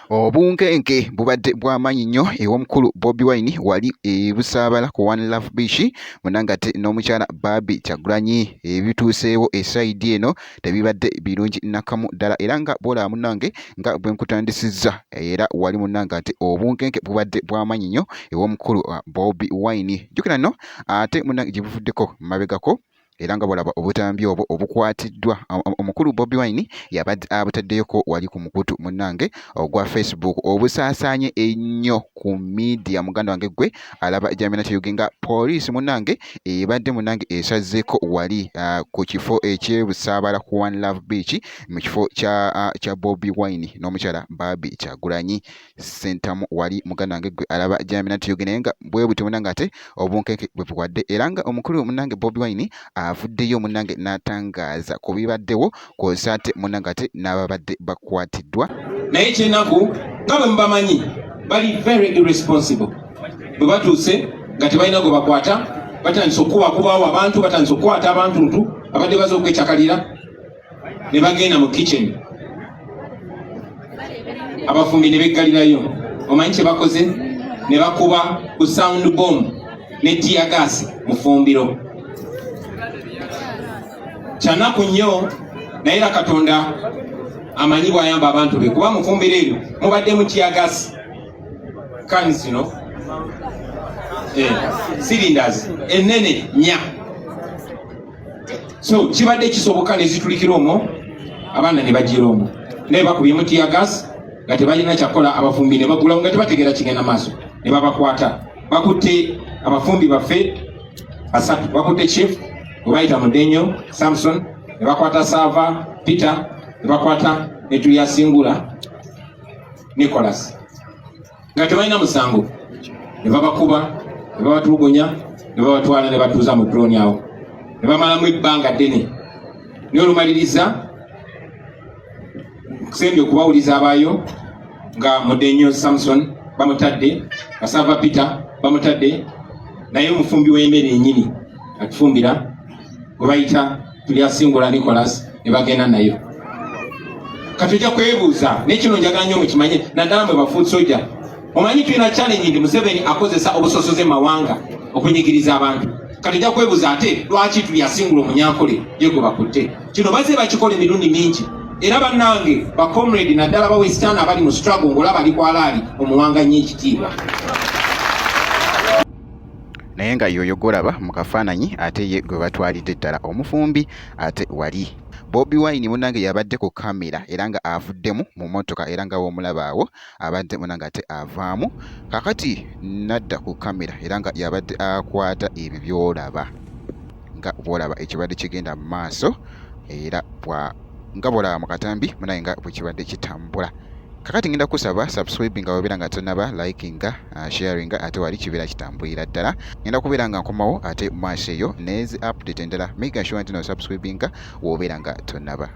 Obunkenke bubadde bw'amaanyi nnyo ew'omukulu Bobi Wine wali e Busaabala ku One Love Beach munangate n'omukyala Barbie Kyagulanyi ebituuseewo esayidi eno tebibadde birungi nakamu ddala era nga bwolaba munange nga bwenkutandisizza era wali munange ati obunkenke bubadde bwamanyi nnyo ew'omukulu uh, Bobi Wine jukira no ate munange gye buvuddeko mabegako era nga bwolaba obutambi obwo obukwatiddwa omukulu Bobi Wine yabadde abutaddeyoko wali ku mukutu munange ogwa Facebook obusaasaanye ennyo ku media muganda wange gwe alaba jamina kyoge nga poliisi munange ebadde munange esazeeko wali uh, ku kifo ekyebusaabala ku one love beach mu kifo kya, uh, kya bobi wine n'omukyala baabi kyagulanyi sentamu wali muganda wange gwe alaba jambi natiyoge naye nga bwe butyo munange ate obunkenke bwe buwadde era nga omukulu munange bobi wine avuddeyo munange n'atangaaza ku bibaddewo kwosa ate munagate n'ababadde bakwatiddwa naye ekyenaku nga bwe mubamanyi bali very irresponsible bwe batuuse nga tebalina gwe bakwata batandise okukubakubawo abantu batandise okukwata abantu ntu abadde baza okwecakalira ne bagenda mu kitchen abafumbi ne beggalirayo omanyi kye bakoze ne bakuba ku sound bomb ne tiagasi mufumbiro kyanaku nnyo naye era katonda amanyi bwayamba abantu be kuba mufumbiro eryo mubadde mukiyagasi kani zino eh, cylinders enene nya so kibadde kisoboka nezitulikira omwo abaana ne bagira omwo naye bakubye mutiyagasi nga tebalina kyakola abafumbi ne bagulawo nga tebategeera kigenda maaso ne babakwata bakutte abafumbi baffe basatu bakutte chief webayita mudenyo samson ne bakwata saava peter ne bakwata netuyasingula nicolas nga tebalina musango ne babakuba ne babatulugunya ne babatwala ne batuuza mu droni awo ne bamalamu ebbanga ddene naye olumaliriza kusembye okubawuliza abaayo nga mudenyo samson bamutadde asava peter bamutadde naye omufumbi w'emmere enyini atufumbira gwe bayita tulyasingula nicolas ne bagenda nayo katujja kwebuuza naye kino njagala nyo mukimanye naddala mwe bafuusoja omanyi tulina challenge ndi museveni akozesa obusosoze mawanga okunyigiriza abantu kati ja kwebuza ate lwaki tuli asingula omunyankole yegwe bakutte kino baze bakikola emirundi mingi era bannange bacomrade naddala bawesitaani abali mu struggle ngaolaba ali kwalaali omuwanga nnyo ekitiibwa naye nga yoyo golaba mu kafaananyi ate ye gwe batwalidde ddala omufumbi ate wali bobi wine munange yabadde ku kamera era nga avuddemu mu motoka era nga womulabaawo abadde muna ng'ate avaamu kakati nadda ku kamera era nga yabadde akwata ebyo byolaba nga bwolaba ekibadde kigenda mu maaso era nga bwolaba mu katambi munaye nga bwekibadde kitambula kakati ngenda kusaba subscribe nga wabeera nga tonaba like nga uh, sharing nga ate wali kibeera kitambulira ddala ngenda kubeera nga nkomawo ate maaso eyo nezi update endala make sure nti no subscribe nga wobeera nga tonaba